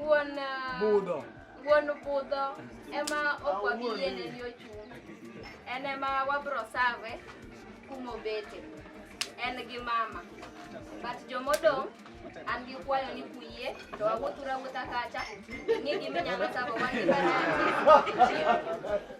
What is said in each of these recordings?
Wuon ah, Budho. wuon budho ema okwagi yiene ni ochung'. En ema wabro save kumobete. En gi mama. But jomodong' an gi kwayo ni kuyie to wawuothura wuotha kacha. Ing'e giminyalo savo wan gi banati.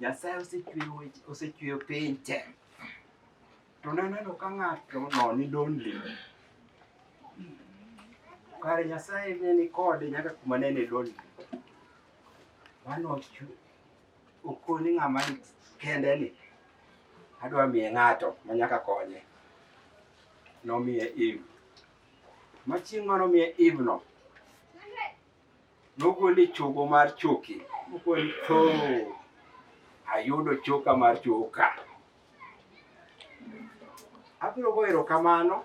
Nyasaye osechweyo piny te to naneno ka ng'ato noni donli kare Nyasaye ne ni kode nyaka kuma ne ni donli mano Okoni ng'ama ni kende ni adwa miye ng'ato ma nyaka konye. Nomiye Eve. Ma chieng' ma nomiye Eve no, nogole chogo mar choki. Nogole to ayudo choka mar choka. Abiro goyo erokamano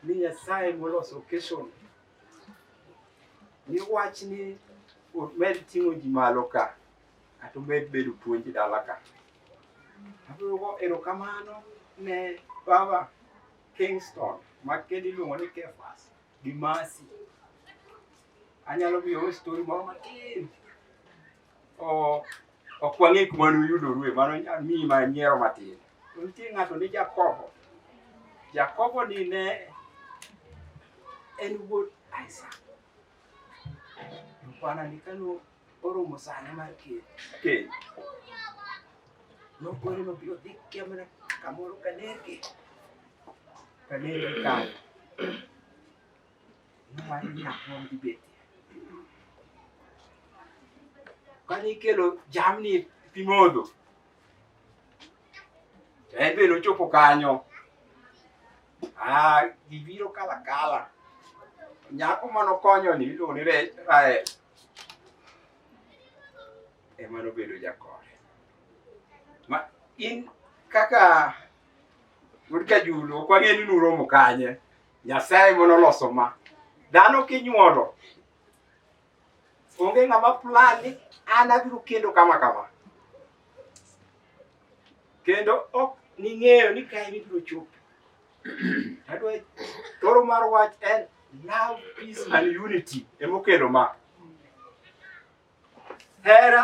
ni Nyasaye moloso occasion ni wach ni omed ting'o ji malo ka kata omed bedo puonj dala ka agoyogo erokamano ne baba kingston ma kendo iluongo ni kefas gi masi anyalo miyowe stori moro matin ok wang'e kuma nuyudorue mano nyalo miyi ma nyiero matin to nitie ng'ato ni jakobo jakobo ni ne en wuod isak bwana ni kano oromo sane mar keny keny nokore nobiro dhi kemna kamoro kanergi kanergi kanyo Mano nyaka wan gi beti. Kane ikelo jamni pi modho, to en be nochopo kanyo. Ah, gibiro kala kala. Nyako mane okonyo ni iluongo ni Re- Rael ema nobedo jakore. Ma in kaka wuod Kajulu ok wang'e ni nuromo kanye. Nyasaye mono loso ma. Dhano kinyuolo. Onge ng'ama plan ni an abiro kendo kama kama. Kendo ok ning'eyo ni kae ibiro chopo. Adwa toro mar wach en love, peace and unity emokelo ma. Hera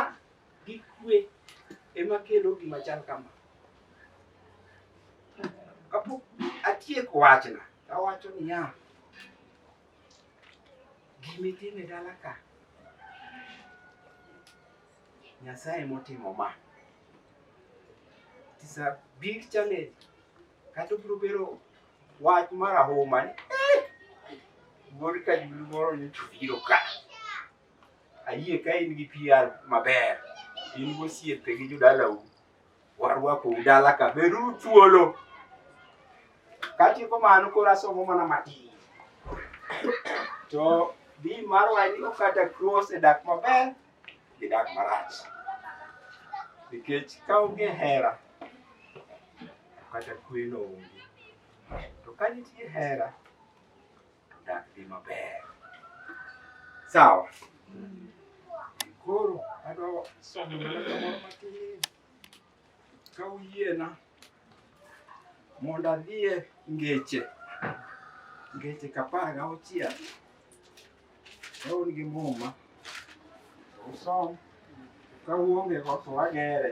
gi kwe ema kelo gima chal kama. Kapok atieko wachna, awacho niya, gimitime dala ka Nyasaye motimo ma. It's a big challenge. Kata obiro bedo wach marahuma ni eh, wuod kajulu moro nyocha obiro ka. Ayie ka in gi PR maber, in gosiepe gi jodalau, warwako udala ka, beru thuolo. Katieko mano koro asomo mana matin. To di mar wani okata cross e dak maber gi dak marach. Nikech ka onge hera, kata kweno onge. To ka nitie hera, to dak dhi maber. Sawa. Koro adwa somo mana kamoro matin ka uyiena mondo adhie ngeche ngeche kapar gauchiel kaun gi muma usom ka uonge go to agere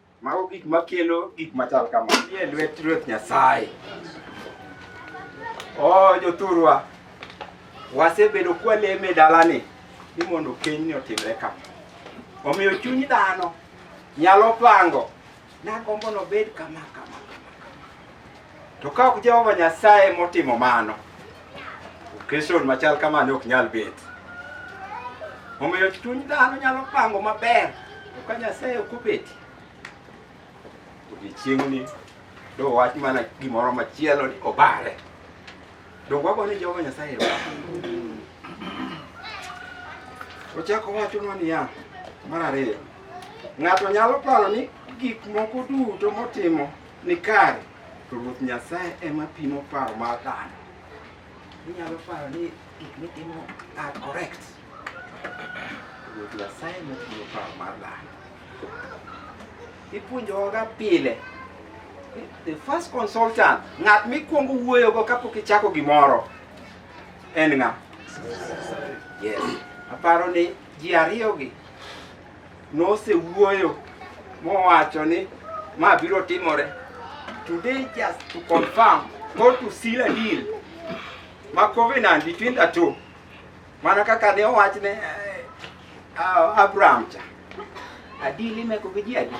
Mago gik makelo gik machal kama. Nie lwet Ruoth Nyasaye. Oh, jothurwa, wasebedo kwaleme e dalani ni mondo kenyni otimre ka. Omiyo chuny dhano nyalo pango nagombo nobed kama kama. To ka ok Jehova Nyasaye motimo mano, okeshon machal kamani ok nyal bet. Omiyo chuny dhano nyalo pango maber, to ka Nyasaye ok obeti, odiechieng'ni do wach mana gimoro machielo ni obare. Donge wago ni Jehova Nyasaye erokamano? Ochako wachonwa niya, mar ariyo, ng'ato nyalo paro ni gik moko duto motimo ni kare to Ruoth Nyasaye ema pimo paro mar dhano. Inyalo paro ni gik mitimo are correct. Ruoth Nyasaye ema pimo paro mar dhano. Ipuonjowaga pile ni the first consultant, ng'at mikwongo wuoyogo kapok ichako gimoro en ng'a? Yes. Aparo ni ji ariyogi nosewuoyo mowacho ni ma biro timore today just to confirm or to seal a deal ma covenant between the two mana kaka ne owach ne eh, ah, Abraham cha adili meko gi ji adi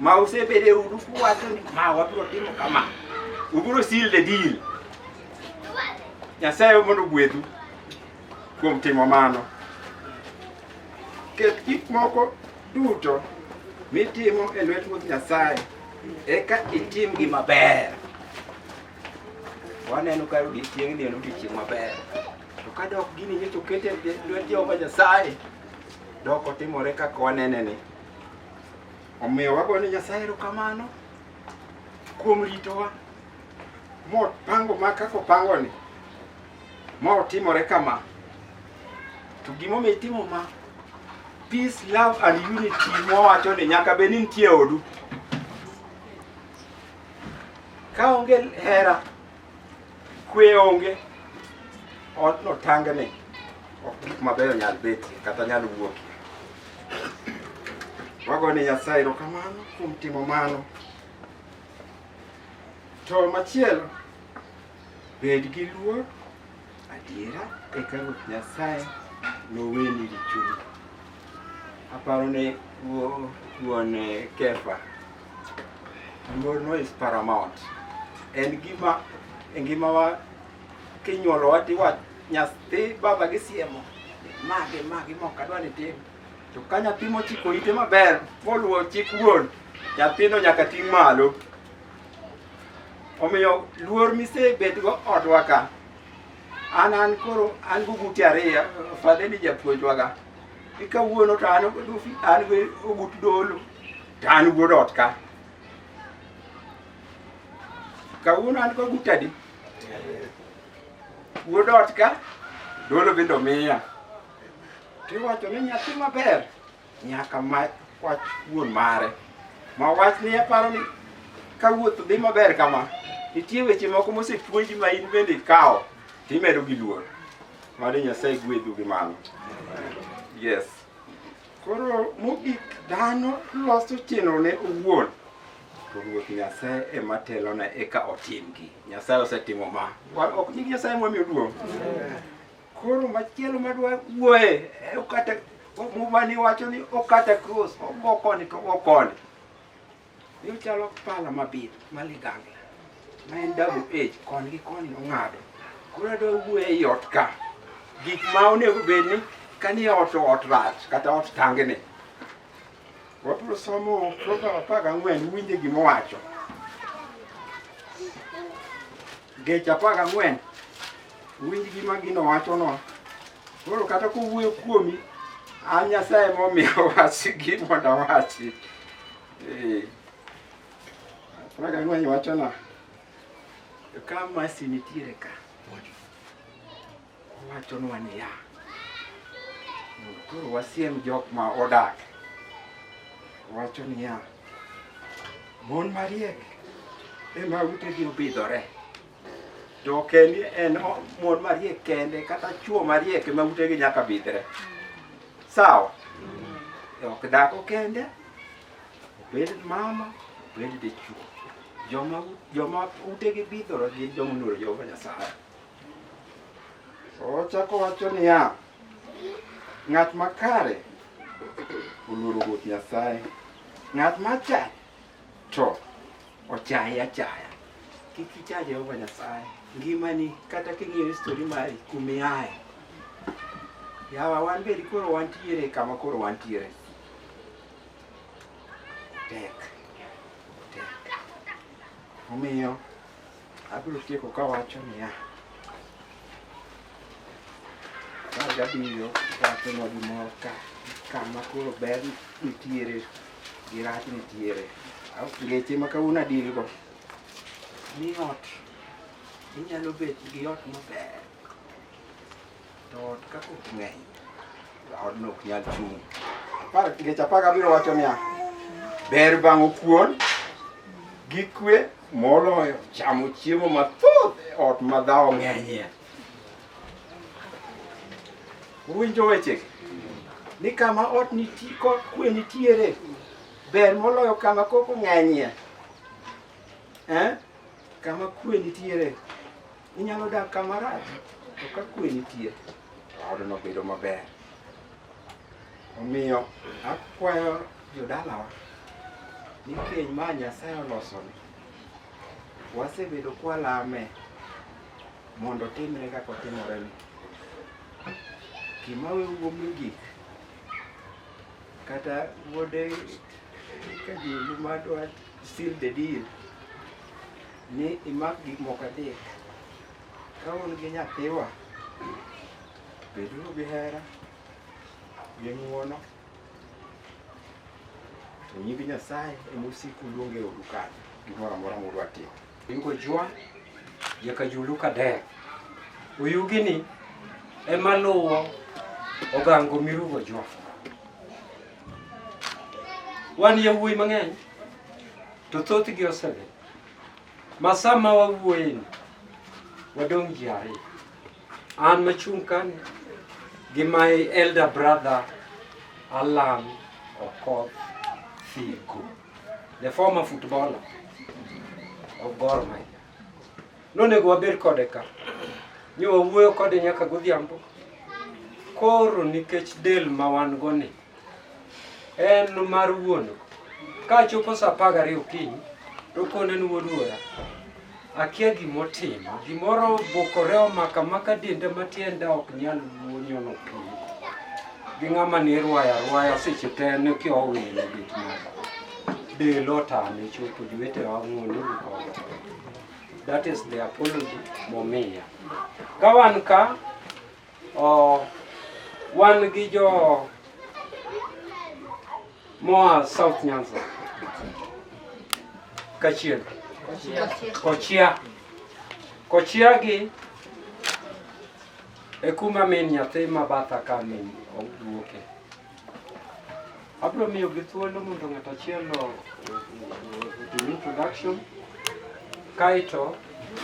ma usebede udu kuwacho ni ma wabiro timo kama ubiro seal the deal nyasaye mondo ogwedhu Kuom timo mano, ket gik moko duto mitimo e lwet Ruoth Nyasaye, eka itim gi maber. Waneno ka odiechieng'ni en odiechieng' maber, to ka dok gini nyocha oket e lwet Jehova Nyasaye, dok otimore kaka waneneni. Omiyo wago ni Nyasaye erokamano kuom ritowa mopango ma kaka opangoni. Ma otimore kama. To gimomiyo itimo ma peace, love and unity mwawacho ni nyaka bed ni nitie odu. Ka onge hera, kwe onge, ot no tangni ok gik mabeyo nyal betie kata nyal wuokie. Wago ni Nyasaye erokamano kuom timo mano. To machielo Bed gi luor, adiera, eka Ruoth Nyasaye noweni richoni. Aparo ne wuo- wuon eh, Kefa, luorno is paramount. En gima e ngimawa kinyuolowa tiwa nyathi baba gi siemo magi magi mok adwa ni tim to ka nyathi mochiko ite maber moluwo chik wuon nyathino nyaka ting' malo omiyo luor misebedgo odwa ka an an koro an gugute ariyo fadhe ni japuonjwaga ikawuono to an an gi ogut dolo to an wuod ot ka kawuono an go gutadi wuod ot ka dolo bende omiya tiwacho ni nyathi maber Nyaka ma wach wuon mare. Ma wach ni aparo ni ka wuoth dhi maber kama, nitie weche moko mosepuonji ma in bende ikawo timedo gi luor. Mano Nyasaye gwedhu gi mano. Yes. Koro mogik dhano loso chenrone owuon to Ruoth Nyasaye ema telone eka otimgi. Nyasaye osetimo ma. Wa- Ok nying Nyasaye mwamiyo duong'. Koro machielo madwa wuoye e okata mumani wacho ni okata cross ogo koni to ogo koni. Ni chalo pala mabith maligangla ma en double edge koni gi koni ong'ado. Koro adwa wuoye ei ot ka gik ma onego bed ni kani ot to ot rach kata ot tangni. Wabiro somo program apar gang'wen winje gima owacho. Geche apar gang'wen Winj gima gino wachono. Koro kata kowuoyo kuomi, an Nyasaye momiyo wachi gima dawachi. Eh. Praga ng'weny wachona. Ka masi nitiere ka. Wachonwa niya. Koro wasiem jok ma odak. Wacho niya. Mon mariek ema utegi obidhore. to kendi en mon mariek kende kata chuo mariek ma utegi nyaka bidhre sawa ok dhako kende obed mama obed dichuo joma joma utegi bidhore gin joma oluoro jehova nyasaye ochako wacho niya ng'at makare oluoro ruoth nyasaye ng'at machach To ochaye achaya. Kik icha Jehova Nyasaye. Ngimani kata king'iyo histori mari kumiaye. Yawa wan bedi koro wantiere kama koro wantiere. Tek. Tek. Omiyo Abiro tieko ka wacho niya, apar gabiriyo wachonwa gimoro ka kama koro ber nitiere gi rach nitiere. Aw- Ngeche ma kawuono adilgo ni ot inyalo bet gi ot maber To ot ka kok ng'eny, odno ok nyal chung'. Apar ngeche apar gabiriyo wacho niya, ber bang'o kuon gi kwe moloyo chamo chiemo mathoth e ot ma dhawo ng'enyie. Uwinjo wechegi? Ni kama ot nitie kod kwe nitiere ber moloyo kama koko ng'enyie. Eh? Kama kwe nitiere Inyalo dak kama rach, to ka kwe nitie, to odno bedo maber. Omiyo akwayo jodalawa ni keny ma Nyasaye olosoni, wasebedo kwalame mondo otimre kaka otimoreni. Gima wewu mogik, kata wuode Kajilu madwa seal the deal, ni imak gik moko adek. Ka un gi nyathiwa, beduru gi hera, gi ng'wono, to nying Nyasaye ema osik oluong e odu kanyo, gimoro amora mudwa timo. Ingo jwa nyaka julu kader. Oyugini ema luwo ogango mirugo jwa. Wan yawuoyi mang'eny to thothgi osewe. Masa ma wawuoyeni, wadong' ji ariyo. An machung' kani gi my elder brother Alan Okoth Figo, the former footballer of Gor Mahia. Nonego wabed kode ka, nyo wawuoyo kode nyaka godhiambo. Koro nikech del ma wan go ni, En mar wuon. Ka chopo sa apar gariyo okinyi, to kone ni wuod wuora, akia gima otimo. Gimoro obukore omaka maka denda ma tienda ok nyal nyono piny. Gi ng'ama ne irwayo arwaya seche te ne kia owilo gik moko. Del otame chopo jowete wang'uon ni koda. That is the apology momiya. Ka wan ka, Oh, wan gi jo moa South Nyanza kachiel kochia kochia gi e kuma min nyathi ma batha ka min oduoke abiro miyo gi thuolo mondo ng'ato achiel otim introduction kaeto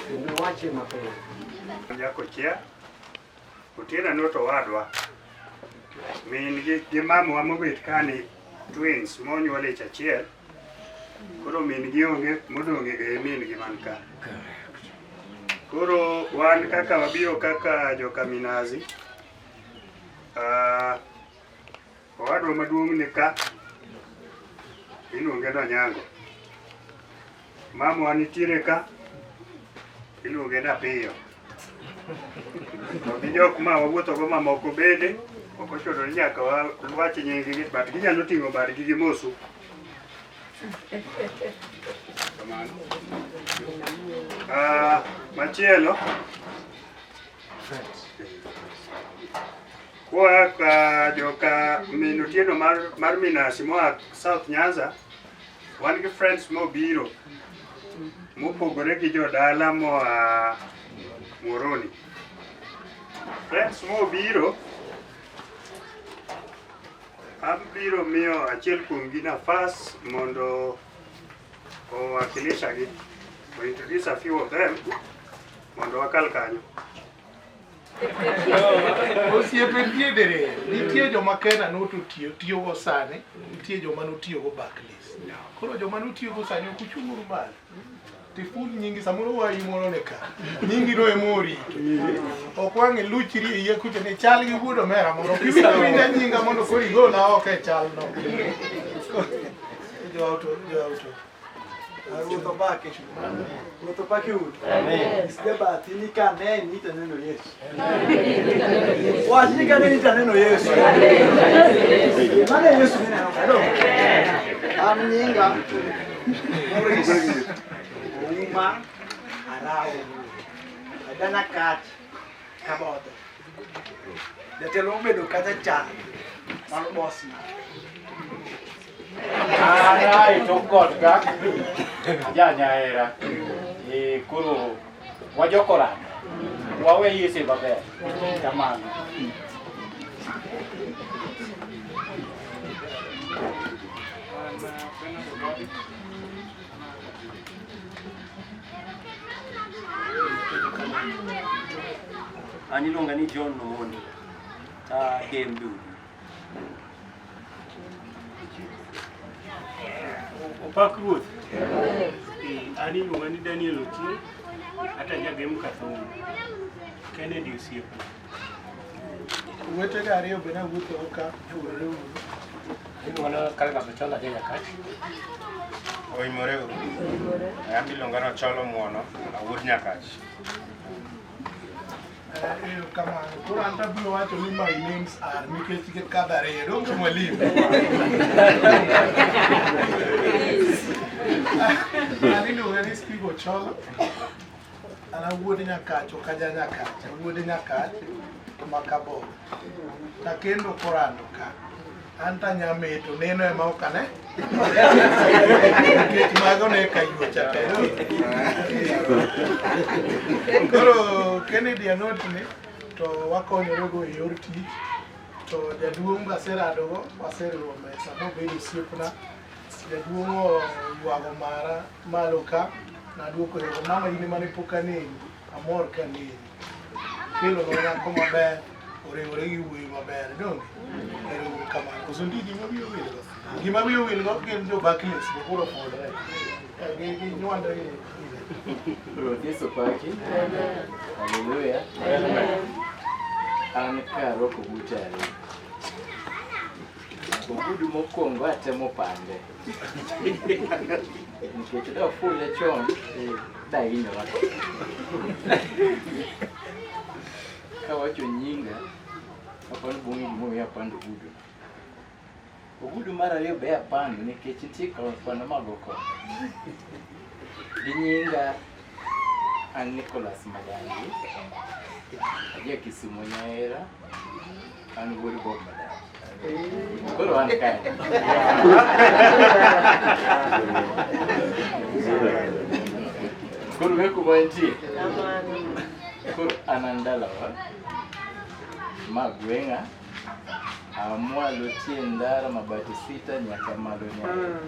kendo wache mapiyo. Nyako chia Otieno no to wadwa. Min gi gi mamwa mobet kani twins monyuol ich achiel. Koro min gi onge modong' e min gi man ka. Koro wan kaka wabiro kaka joka Minazi. Ah, Owadwa maduong' ni ka iluonge ni Onyango. Mamwa nitiere ka iluonge ni Apiyo. To gi jok ma wawuothogo mamoko bende ok ochuno ni nyaka wawach nyinggi but ginyalo ting'o badgi gi mosu. Kamano. Ah, machielo Kwa ka joka min otieno mar, mar Minasi moa South Nyanza, wan gi friends mobiro mopogore gi jodala moa Muhoroni. Friends mobiro abiro miyo achiel kuomgi nafas mondo owakilishagi. We introduce a few of them mondo wakal kanyo. osiepe nitie dere nitie joma kena noto tiyo tiyogo sani nitie joma notiyogo Barclays koro joma notiyogo sani ok uchung'uru malo tiful nyingi samoro wayi moro ne ka nyingi no ema orito ok wang' iluchri e iye kucha ni chal gi wuod omera moro kiwinja nyinga mondo koro igola oko e chalno jo auto jo auto Ruto baki. Ruto baki ut. Amen. Sija bahati ni kane ni taneno Yesu. Amen. Wajini kane ni taneno Yesu. Amen. Maana Yesu ni neno kado. Amnyinga. Muris. Uma arao. Adana kat kaboto. Jatelo obedo kacha cha mar boss na. Arai to god ka. Ja nyaera. Eh koro wajokora. Wawe yese babe. Kamano. An iluonga ni John Omondi. Ta game dudu. Opak ruoth. Eh, An iluonga ni Daniel Otieno. Ata jagem Kathongo. Kennedy Osiepo. Wetega ariyo be nawuotho ka chwore uru. Inuono kale ng'ato cholo aja nyakach. Oimore uru. An iluonga ni Ocholo Muono, awuod Nyakach. Eyo kamano. Koro an tabiro wacho ni my names are nikech gin kadho ariyo. Donge mwalimu? An iluonga ni Steve Ocholo. An awuod Nyakacho ka ja Nyakacha, wuod Nyakach ma Kabod. Nakendo korando ka. An ta nyameto, neno ema ok ane. Nikech mago ne ka yuocha te. Koro Kennedy anot ni to wakonyore go e yor tich. To jaduong' waseradogo, waseriwo mesa mobedo osiepna. Jaduong' oywago mara malo ka, naduoko yego mama in mane pok aneni, amor ka neni. Kelo no nyako maber, oriwore gi wuoyi maber, donge? Ero uru kamano. Koso ndi gima wiyo wil go? Gima wiyo wil go gin jo Barclays, to koro fodre. Eh, gi- gi nywanda gi. Ruoth Yesu paki. Haleluya. An ka aroko buta ariyo. Ogudu mokwongo atemo pande nikech da ofule chon da hinyora kawacho nyinga apani bung'e gimomiyo apando ogudu ogudu mar ariyo be apando nikech nitie kwano mago ko gi nyinga an Nicholas Madangi aja Kisumu Nyahera Ano wuod Bob madam. Koro an kae. Koro ng'e kuma entie. Koro an an dalawa. Ma gweng'a. Amwalo tie ndara mabati sita nyaka malo nyaka.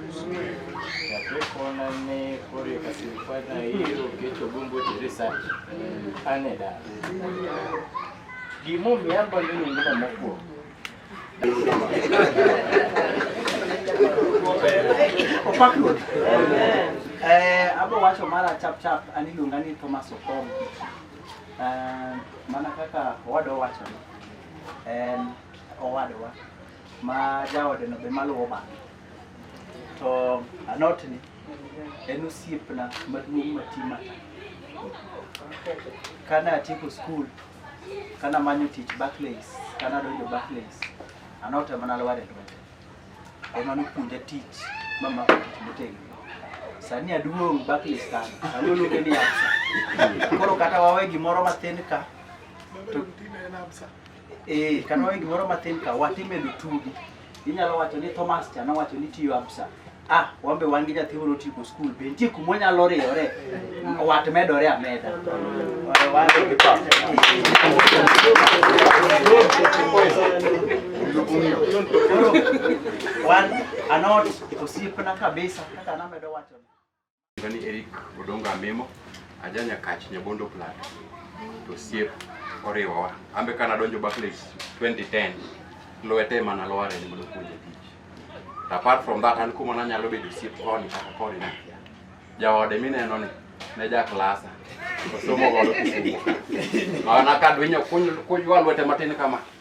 Chakre kona ne koro e kasirifana iro kecho gombo tere sati. An e dala. Gimomiyo ambalo nyingno mokwongo. Opak Ruoth. Eh, abo wacho mara chap chap an iluonga ni Thomas Okom. Eh, mana kaka owadwa wacho en owadwa ma jaode no be maluwo bang'e. to anotni en osiepna maduong' mati mata. Kane atieko skul, kane amanyo tich Barclays, kane adonjo Barclays, anot ema nalwar e lwete. Ema nopuonja tich mamako tich motegno. Sani aduong' Barclays kanyo, aluonge ni Absa. Koro kata wawe gimoro mathin ka, to Eh, kata wawe gimoro matin ka watimedo tugi. Inyalo wacho ni Thomas cha nowacho ni tiyo absa. Ah, wambe wan gi nyathi moro tieko skul be nitie kuma onyalo riyore wat medore ameda. Wan- wan- Koro, wan anot osiepna kabisa kaka namedo wacho. Ni Eric Odonga Memo, aja Nyakach Nyabondo Plat. To siep oriwowa. Ambe kana donjo Barclays 2010 lwete mana lware ni mondo puonje tich. To apart from that an kuma nanyalo bedo siep koni kata koni na. Jaode mineno ni ne ja klasa. Osomo godo kisumo. Maana kadwinyo kunywa lwete matin kama.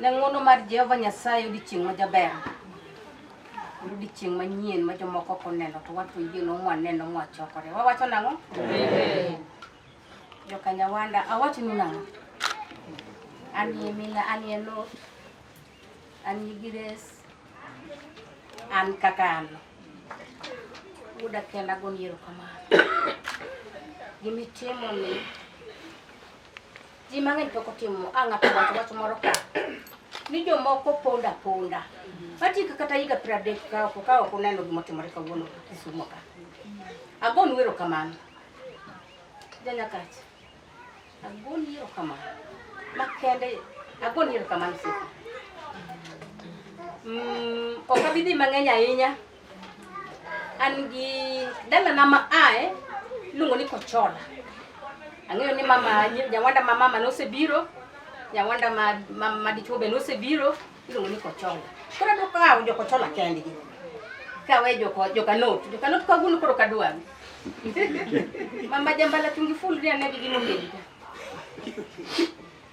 Ne ng'wono mar Jehova Nyasaye odiechieng' ma jaber. En odiechieng' manyien ma jomoko ok oneno to wan to yie no waneno mwachokore. Wawacho nang'o? Joka Nyawanda, awachonu nang'o? An ye Mila, an ye Lot, an ye Gires, an kaka an. Wuoda kenda agoni erokamano. Gimitimo ni Ji mang'eny pok otimo a ng'ato wacho wach moro ka ni jomoko ponda ponda matika kata higa piero adek ka oko ka ok uneno gima otimore kawuono Kisumo ka. Agonu erokamano janyakacha, agoni erokamano makende, agoni erokamano siko. Mm, ok abi dhi mang'eny ahinya An gi dalana ma ae iluongo ni Kochola. Ang'eyo ni mama nyawanda ma mama nosebiro, nyawanda ma ma, ma dichuo be nosebiro, iluongo ni Kochola. Koro adwa kawo jo Kochola kendgi. Kawe jo ko- jo Kanot, jo Kanot ka gulu koro kadwami. Mama jambala tungi full ni anegi gimobedo.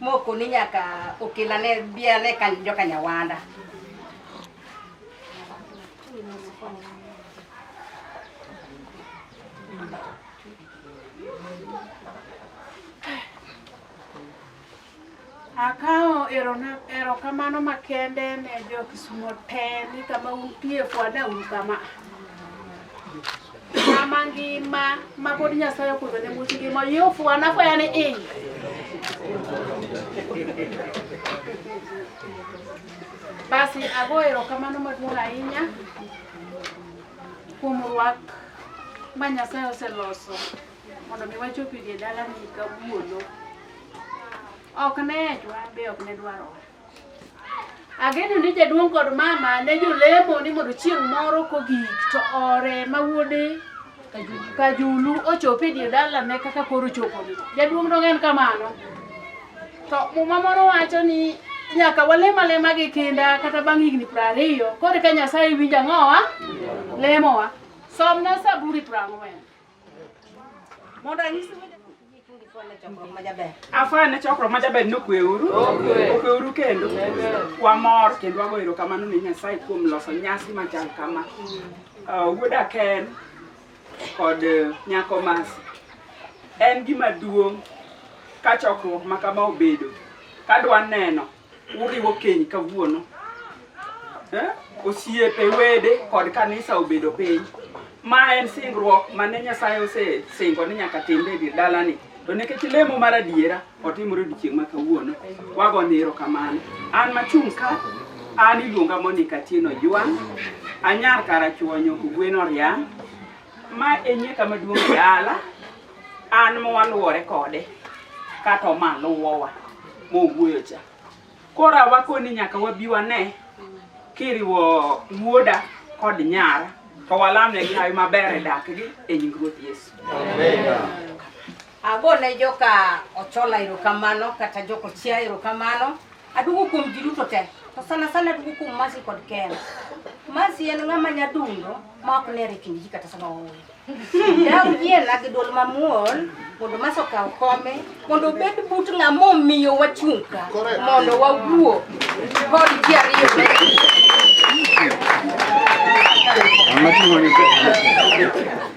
moko ni nyaka okelane biane kan joka nyawanda Akawo erona- erokamano makende ne jo Kisumo te ni kama untie fwana un kama. Ng'ama ngima ma pod Nyasaye okundo ne much ngima oyie ofuwo anafwaya ni i. Basi ago erokamano maduong' ahinya kuom rwak ma Nyasaye oseloso mondo mi wachopi e dalani kawuono. Ok ne ejwa be ok ne dwarowa. Ageno ni jaduong' kod mama ne jolemo ni mondo chieng' moro kogik to ore ma wuode Kajulu ochopo e dier dalane kaka koro choponi. Jaduong' dong' en kamano. To muma moro wacho ni nyaka walem alema gi kinda kata bang' higni piero ariyo koro ka Nyasaye winjo ang'owa lemowa. Somna Zaburi piero ang'wen. Mondo anyisi afwaya ne chokruok ma jaber ni okweuru okweuru kendo wamor kendo wago erokamano ne nyasaye kuom loso nyasi machal kama uh, wuoda ken kod uh, nyako masi en gima duong' ka chokruok ma kama obedo kadwa neno Uriwo keny kawuono. Eh? Osiepe, wede kod kanisa obedo piny. Ma en singruok mane Nyasaye osesingo ni nyaka timbe e dir dalani. To nikech lemo mar adiera otimore odiechieng' ma kawuono, wago ni erokamano. An machung' ka, an iluonga Monica Tieno Ojwang', anyar Karachuonyo, Ogwen Oriang'. Ma e nyeka maduong' e dala, an mwaluwore kode kata omaluwowa mowuoyo cha. Koro awakoni nyaka wabi wane kiriwo wuoda kod nyara to walamnegi hawi maber e dakgi e nying Ruoth Yesu. Agone joka Ochola erokamano kata joka Ochia erokamano. Aduogo kuom ji duto te. To sana sana aduogo kuom Mercy kod Ken. Mercy en ng'ama nyadundo ma ok nere kind ji kata sama ooyo. Daw yiena gi dwol mamuol mondo Mercy okaw kome mondo obed but ng'ama omiyo wachung' ka mondo wawuo kod ji ariyo magi.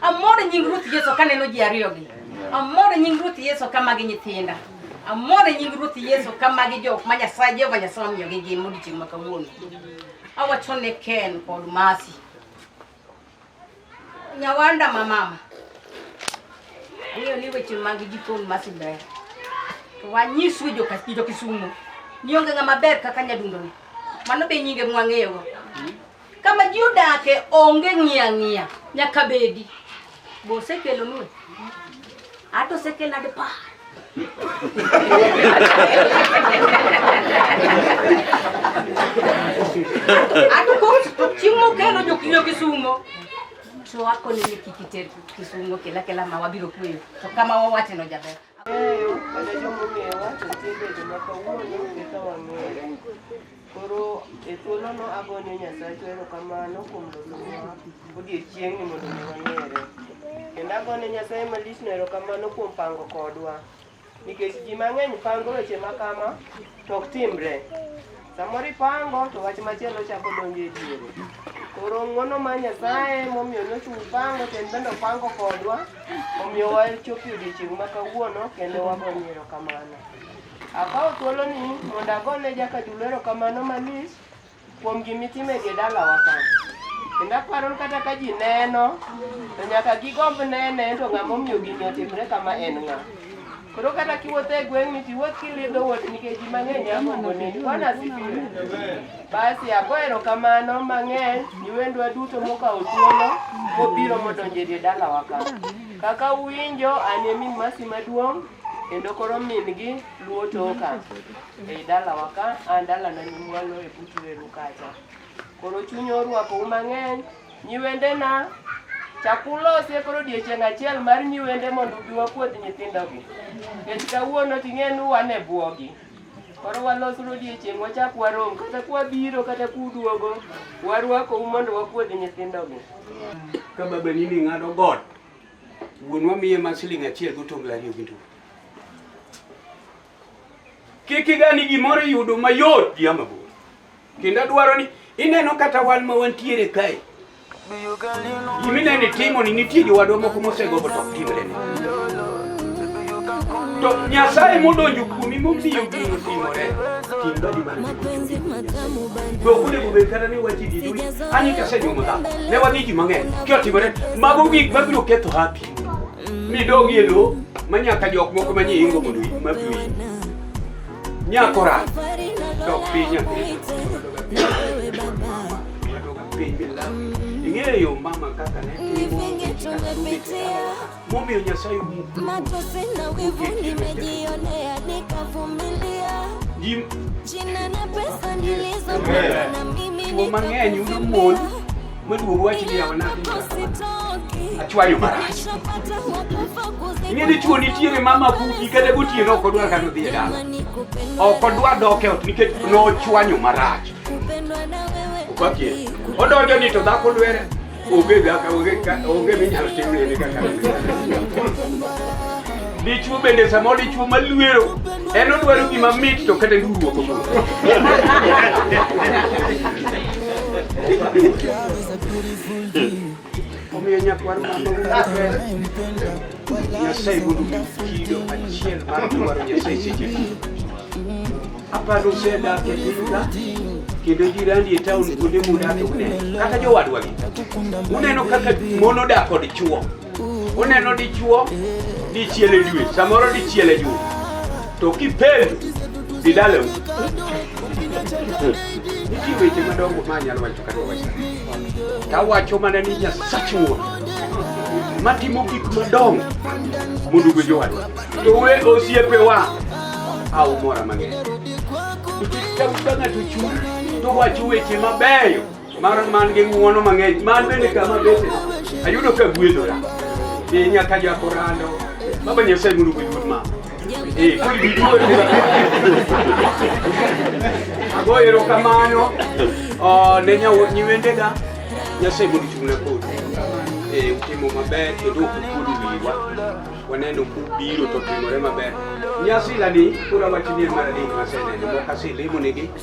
Amor e nying Ruoth Yesu kaneno ji ariyogi. Amor e nying Ruoth Yesu ka magi nyithinda. Amor e nying Ruoth Yesu ka magi jok ma Nyasaye Jehova Nyasaye omiyogi ngima odiechieng' ma kawuono. Awacho ne Ken kod Mercy. Nyawanda ma mama. Ang'eyo ni weche mag jikon Mercy ber. To wanyiswe joka jo Kisumo. Ni onge ng'ama ber kaka nyadundoni. Mano be nyinge mwang'eyogo. Kama ji odake onge ng'iya ng'iya nyaka bedi. Bo osekelo nue. Ato osekelo ade pa. Ato kos to chieng' mokelo jokiyo kisumo. To akone ni kik iter kisumo kela kela ma wabiro kueyo. To kama wawacheno jaber. Koro e thuolono agonyo Nyasachwa erokamano kuom losowa odiechieng'ni mondo mi wang'ere. Kendo agonyo Nyasaye malichno erokamano kuom pango kodwa. Nikech ji mang'eny pango weche makama to ok timre. Samoro ipango to wach machielo chako donjo e diere. Koro ng'wono ma Nyasaye momiyo nochung' pango to en bende opango kodwa omiyo wachopo e odiechieng' ma kawuono kendo wagonyo erokamano. Akawo thuoloni mondo agone jakadulo erokamano malich kuom gimitimo e dalawa ka. Kendo aparo ni kata ka ji neno to nyaka gigomb nene to ng'ama omiyo gini otimre kama en ng'a. Koro kata kiwuotho e gweng'ni to iwuoth kilindo wuoth nikech ji mang'eny a mogoni. Bwana asifiwe. Basi ago erokamano mang'eny ni wendwa duto mokawo thuolo mobiro modonjo e dalawa ka. Kaka uwinjo an e min masi maduong' kendo koro min-gi luwo toka ei dalawa ka an dalana nyimwalo e butu eru kacha. Koro chuny orwakou mang'eny Nyiwendena, chak ulosie koro odiechieng' achiel mar nyiwende mondo ubi wapuodh nyithindogi. Nikech kawuono ting'e ni wan e bwogi. Koro walos uru odiechieng' wachak warom kata kwabiro kata kuduogo warwakou mondo wapuodh nyithindogi. Ka babani ni ng'ado got, wuonwa miye ma siling' achiel gi otungle ariyo gi ndu. Kik igani gimoro yudo mayot gi ama bor. Kendo adwaro ni ineno kata wan ma wantiere kae. Giminene timo ni nitie jowadwa moko mosegombo to ok timre ni. To Nyasaye modonjo kuomi momiyo gino timore. Tim dadi mar mapenzi matamu bana. Dok onego bed kata ni wachi di dui. Ani kasenyuomo dhako. Ne wadhi ji mang'eny. Kyo timore. Mago gik mabiro ketho happy. Ni dog yelo ma nyaka jok moko ma nyie ingo mondo ma bi. Nyakora. Dok piny nyathi. Ing'eyo mama kaka ne momiyo Nyasaye matosi na wivu nimejionea nikavumilia jina na pesa nilizopata na mimi nikavumilia Mwezi uwachilia ya wanangu. Achua yo marashi. Inye ni chuo nitiere mama buki kata gutie no kodwa kano dhi e dala. Oko dwa doke ot nikech no chwanyo marashi. Upakie. Odonjo ni to dhako lwere. Onge dhaka onge onge minyalo timne ni kaka. Dichwo bende samoro dichwo maluero en odwaro gima mit to kata duruok omiyo nyakwar Nyasaye gudu kido achiel mar dwaro Nyasaye seche aparo usedak e pinyka kendo jirani e taon kuonde mudak uneno kaka jowadwagi uneno kaka mon odak kod chwo Uneno dichuo dichiel e dwe, samoro dichiel e juma, to kipendo didaleu nitie weche madongo ma anyalo wacho kata wawacho tawacho mana ni Nyasach Wuon matimo gik madongo mondo ogwe jowadwa to we osiepewa aumora mang'eny nikech ka ng'ato chung' to wacho weche mabeyo mar man gi ng'uono mang'eny man bende kama bete ayudo ka gwedhora e nyaka jako rando baba nyasaye mondo gwedhur ma e kuli biduor ago erokamano ne nyiwendega nyasaye mondo chung'na kodi e utimo maber kendo ok ukuodo wiwa waneno kubiro to timore maber nyasi lani kura wachni en mar adek maseneno mok aselemo nigi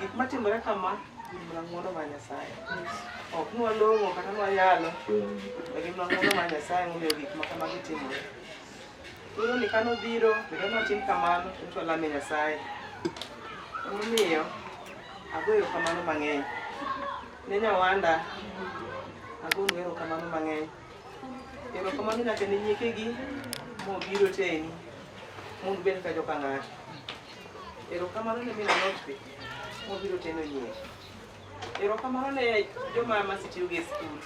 Gik matimore kama gin mana ng'wono mar Nyasaye. Ok nwa long'o kata nwa yalo, to gin mana ng'wono mar Nyasaye momiyo gik ma kamagi timore. Koro ni kane obiro, bedo ni watim kamano, to nyiso walame Nyasaye. Emomiyo agoyo kamano mang'eny. Ne nyawanda, agonu erokamano mang'eny. Erokamano nyaka ne nyiekegi mobiro teni, mondo ubed ka joka ng'ato. Erokamano ne min alot be mobiro teno nyiewo. Erokamano ne joma masetiyogo e skul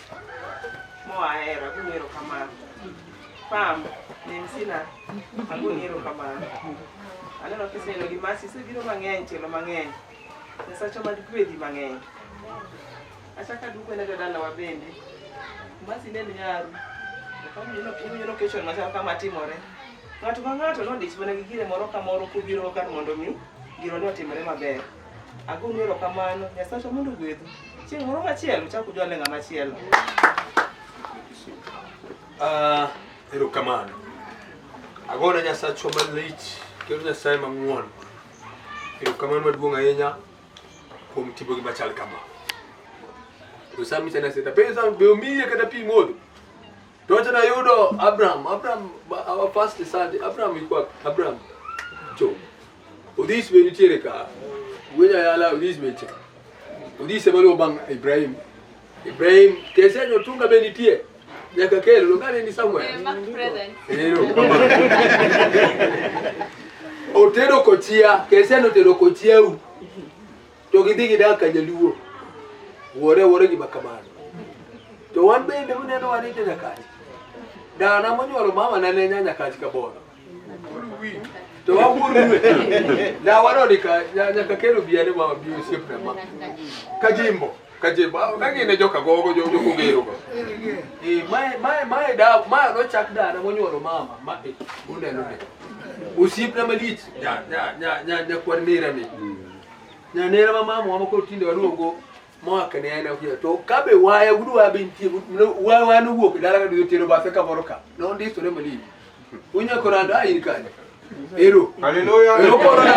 moa hera agoni erokamano. Pam ne msina agoni erokamano. Aneno kiseelo gi masi isebiro mang'eny tielo mang'eny. Nyasacha mad gwedhi mang'eny. Achaka duko ne jodalawa bende. Masi ne nyaru. Okamnyono kechon machal kama timore. Ng'ato ka ng'ato nodich mana gi gire moro ka moro kobiro kar mondo mi giro ne otimre maber. Agonu erokamano, Nyasacha mondo ogwedhu. Chieng' moro machielo uchak ujwale ng'ama chielo. Ah, erokamano. Agona Nyasachwa malich kendo Nyasaye mang'won. Erokamano maduong' ahinya kuom timo gima chal kama. Osami sana sita. Pesa be omiye kata pi modho. Ndio tena yudo Abraham, Abraham our first son, Abraham ilikuwa Abraham. Jo. Udhis be nitiere ka. Wenya yala udhis be cha. Udhis e malo bang Ibrahim. Ibrahim kese nyo tunga be nitie. Nyaka kelo longane ni Samuel. Eh, mark present. Hello. Otero kochia, kese no tero kochia u. to gidhi gidak ka jaluo wuore wuore gi makamano to wan bende uneno wan ite nyakachi dana monyuolo mama na ne nya nyakachi ka bono to wawuorue na wanoni ka nyaka kelo biyane mama bi osiepna ma ka jimbo ka jimbo ah, ka gine joka gogo jo jo kogero go e mae mae mae da mae no chak dana monyuolo mama ma e uneno ne osiepna malich nya nya nya nya kwan mira ni na nera ma mama wa moko tinde waduogo moa kene en akia to kabe waya gudu wa be nitie wa wa no wuok dala ka duyo tero bathe ka moro ka no ndi sore mali unya korando ayi kane ero haleluya okoro na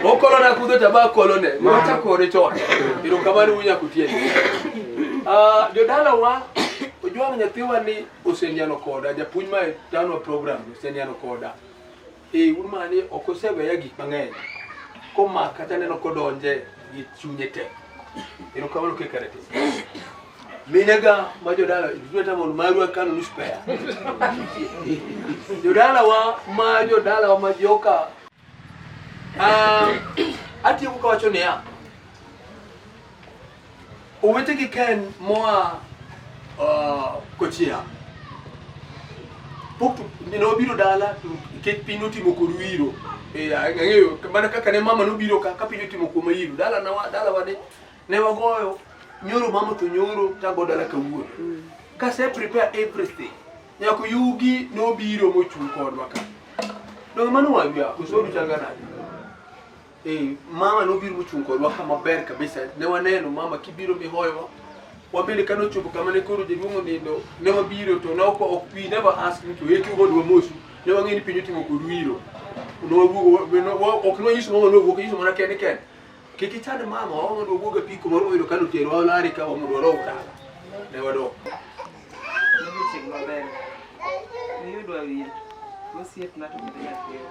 okoro na kudo tabako lone wacha kore chon ero kamani unya kutieni ah jodala wa ojwang nyathiwa ni osendiano koda japuonj ma tano program osendiano koda Ee, un mana ni ok oseweya gik mang'eny komaka kata neno kodonje gi chunye te. Erokamano kaka rete. Minega ma jodala tuta mon marwa kano nus pea. Jodalawa ma jodalawa ma joka ah atieko kawacho niya Owetegi Ken moa uh, Kochia pok nobiro dala nikech piny notimo kod wiro e, ang'eyo mana kaka ne mama nobiro ka ka piny otimo kuom ayiro dala na dala wade ne wagoyo nyoro mama to nyoro tago dala kawuono mm. kase prepare everything nyako yugi nobiro mochung' kodwa ka donge mano wawia osodu chal ga nade Eh, mama nobiro mochung' kodwa kama ber kabisa. Ne waneno mama kibiro mihoyowa. Wabende kane ochopo kama ne koro jaduong' onindo, ne wabiro to ne ok ok we never ask him to eki kodwa mosu. Ne wang'eyo ni piny otimo kod wiro. Ne wawuogo we- no- wa- ok ne wanyiso mama ne wawuok, wanyiso mana kende kende. Kik ichand mama, wa mondo wawuog e piko moro moyudo kane oterowa olari ka wa mondo wadog dala. Ne wadok. Odiochieng' maber. Niyudwa wir. Osiepna to bende nyathina.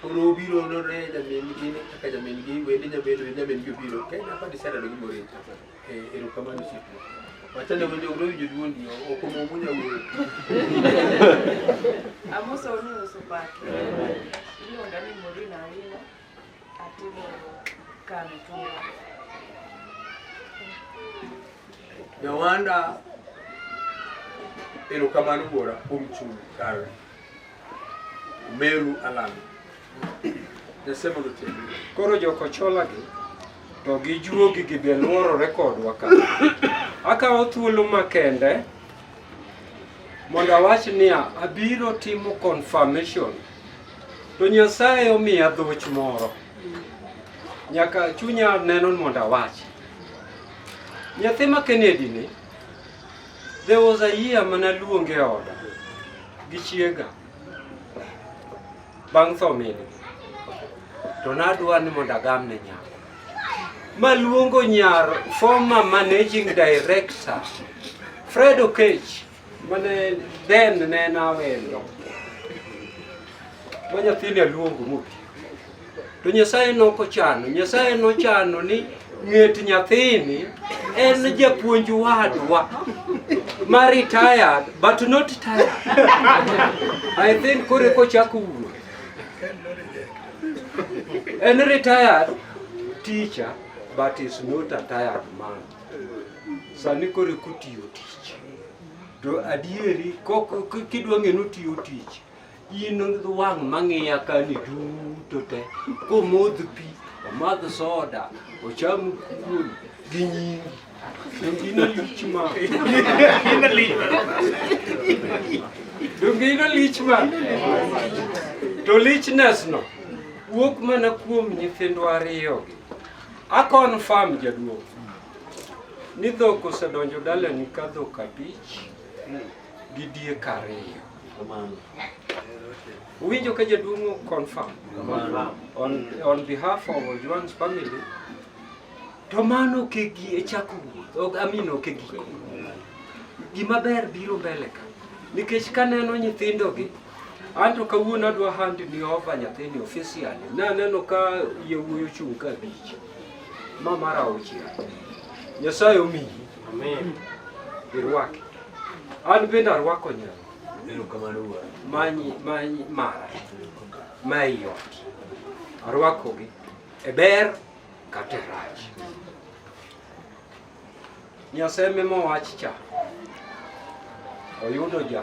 Koro obiro nore nyamin gi kaka nyamin gi wende nyamin wende nyamin gi obiro ka ina pa disara do gimore e ero kamano sipo wachane wende uro winjo duondi ok omomo nyawuoyo Amosa uni uso pake. Iluonga ni Morina Awino. Nyawanda, erokamano wuora kuom chung' kare. Meru Alan. Nyasaye mondo otiek. Koro jokochola gi to gi juogi gi be luorore kodwa ka. Akawo thuolo makende mondo awach niya abiro timo confirmation To Nyasaye omiya dhoch moro. Nyaka chunya neno mondo awach. Nyathi ma Kennedy ni, there was a year mana luonge e oda gi chiega bang' tho min to nadwa ni mondo agam ne nyako maluongo nyar former managing director Fred Okech Mane then ne en awendo ma nyathini aluongo mobi to Nyasaye noko chano Nyasaye nochano ni ng'et nyathini en japuonj wadwa ma retired but not tired I think kore kochako wuo en retired teacher but is not a tired man sani koro kotiyo tich to adieri kidwa ng'e ni otiyo tich in wang' mang'iya kani duto te komodh pi omadh soda ocham kuon gi nyingi donge in alich ma donge in alich ma to lichnesno wuok mana kuom nyithindwa ariyogi A confirm jaduong' ni dhok osedonjo dalani ka dhok abich gi diek ariyo. Uwinjo ka jaduong' o confirm on, on behalf of Ojwang's family to mano ok e gi- e chako wuoth, ok- I mean ok e giko. Gima ber biro mbele ka nikech kaneno nyithindogi Anto kawuono adwa hand ni over nyathini officially. Naneno ka yewuoyi ochung' ka abich. Ma mar auchiel. Nyasaye omiyi. Amen. Irwake. An bende arwako nyalo. Erokamano wuora. Manyi manyi mara. Ma ei ot. Arwakogi e ber kata e rach. Nyasaye mema wach cha oyudo ja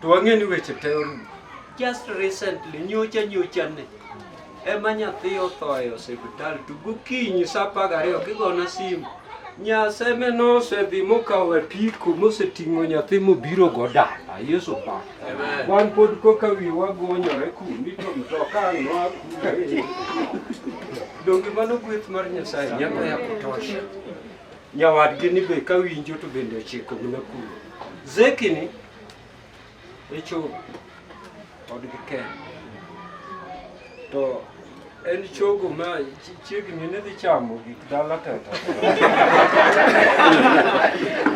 To wang'e ni weche te orumo. Just recently, nyocha nyocha ne, ema nyathi otho e osiptal to gokinyi sa apar gariyo kigona simu. Nyaseme nosedhi mokawo apiko moseting'o nyathi mobiro go dala. Yesu pa. Wan pod koka wiye wagonyore kundi to mtoka ang' noa kuno. Donge mano gweth mar Nyasaye nyaka ya kutosha. Nyawadgi ni be ka winjo to bende ochiko gi nakuru. Zeki ni echo odgi ken. To en chogo ma chi- chiegni ni dhi chamo gik dala teta.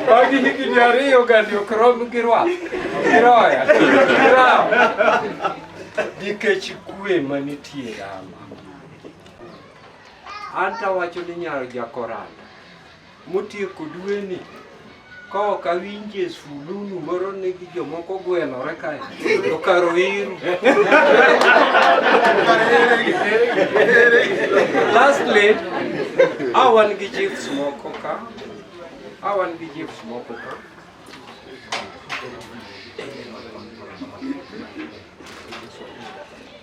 Bang' higni ariyo gani ok rom gi rwath, gi roya, gi rawo. Nikech kwe manitie Rama. An tawacho ni nyar jakoranda motieko dweni ka ok awinje sululu moro ni gi jomoko gwelore kae to kar oiru. Lastly, a wan gi chiefs moko ka, a wan gi chiefs moko ka.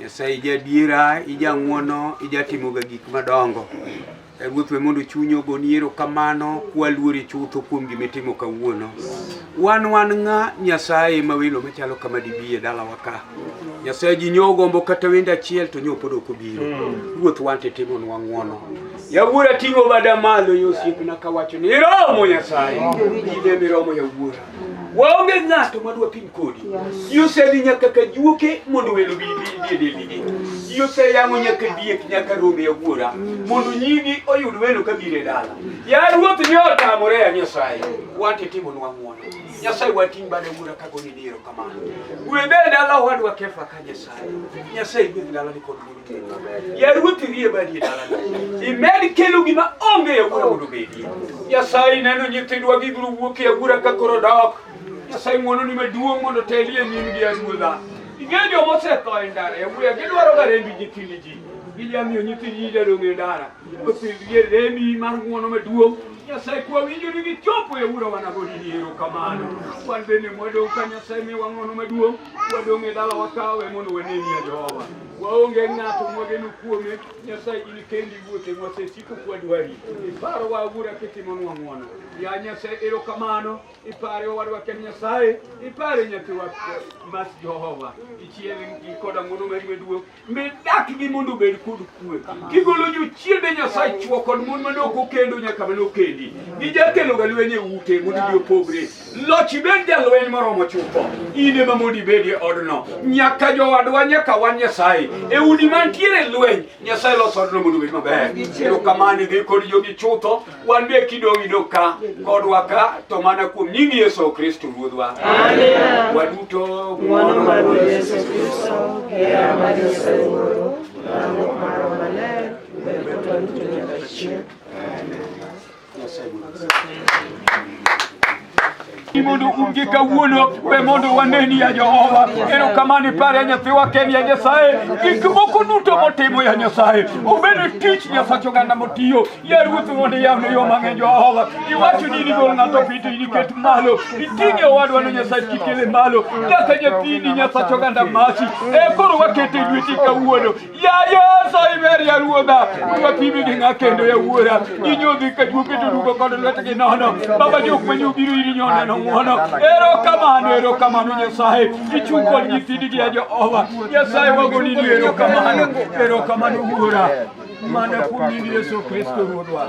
Nyasaye ijadiera, ijang'wono, ijatimoga gik madongo. E Ruoth we mondo chunyi ogoni erokamano kwaluori chutho kuom gima itimo kawuono. Wan wan ng'a Nyasaye ma welo machalo kama dibi e dalawa ka. Nyasaye ji nyo ogombo kata wendo achiel to nyo pod ok obiro. Ruoth wan to itimonwa ng'wono. Yawuora ting'o bada malo yosiepna kawacho ni iromo Nyasaye. Ine miromo yawuora. Waonge ng'ato ma dwa pim kodi. Ji osedhi nyaka ka juoke mondo welo bi bi e deligi. Ji oseyang'o nyaka diek nyaka rombe e wuora mondo nyigi oyud welo ka bire dala. Ya ruoth ni otamore ya Nyasaye. Wante timo nwa ng'wono. Nyasaye wating' bade wuora ka goni diro kamano. Gwedhe dala wadwa kefa ka Nyasaye. Nyasaye gwedhe dala ni kod Yaruoth irie badie dalana. Imed kelo gima onge ya gura mondo bedie. Nyasaye neno nyithindwa gibiro wuok e agura ka koro dok. Nyasaye ng'wono ni maduong' mondo teli e nyim gi aruodha. Ing'eyo joma osetho e ndara e wuya gidwaro ga rembi nyithindi ji. Gilia miyo nyithindi ji jadong' e ndara. Osidhie rembi mar ng'wono maduong'. Nyasaye kwa winjo ni gichopo e ura wanagoni ni ero kamano. Wan bende mwadong' ka Nyasaye miwa ng'wono maduong'. Wadong' e dala wakawe mondo waneni ya Jehova. waonge ng'ato mwageno kuome nyasaye in kendi wuothe mwasesiko kwadwari iparo wa awura kitimonwa ng'wono ya nyasaye erokamano ipare owadwa ken nyasaye ipare nyathiwa mas jehova ichiel koda ng'wono mari maduong' mi dakgi mondo obed kod kwe kigolo jochiende nyasaye chwo kod mon mane ok okendo nyaka mane okendi gijakeloga lweny e ute mondo ji opogre Loch ibed jalweny moromo chutho, in ema mondo ibed e odno. Nyaka jowadwa, nyaka wan Nyasaye. E udi mantiere e lweny, Nyasaye loso odno mondo obed maber. Ero kamani dhi kod jogi chutho, wan be kidong' idog ka kodwa ka, to mana kuom nying Yesu Kristo Ruodhwa. Waduto ng'wono mar Ruoth Yesu Kristo, hera mar Nyasaye Wuoro, lamruok mar Roho Maler, bed kodwa duto nyaka chieng'. mondo unge kawuono be mondo waneni ya Jehova. Erokamano ipare ya nyathiwa Ken ya Nyasaye, gik moko duto motimo ya Nyasaye, obene tich Nyasacho ganda motiyo ya Ruoth mondo yawne yo mang'eny Jehova. Iwacho ni nigol ng'ato pito iniket malo, iting'e owadwa no Nyasaye kikele malo, nyaka nyathini Nyasacho ganda masi. E koro wakete lweti kawuono ruodha ruodha pime gi ng'a kendo yawuora ji nyodhi ka juo keto rugo kod lwetgi nono baba jok ma nyobiro iri nyoneno ng'wono ero kamano ero kamano nyasaye ichung' kod nyithindi gi ya jehova nyasaye wagoni ni ero kamano ero kamano wuora mana kuom nying yesu kristo ruodwa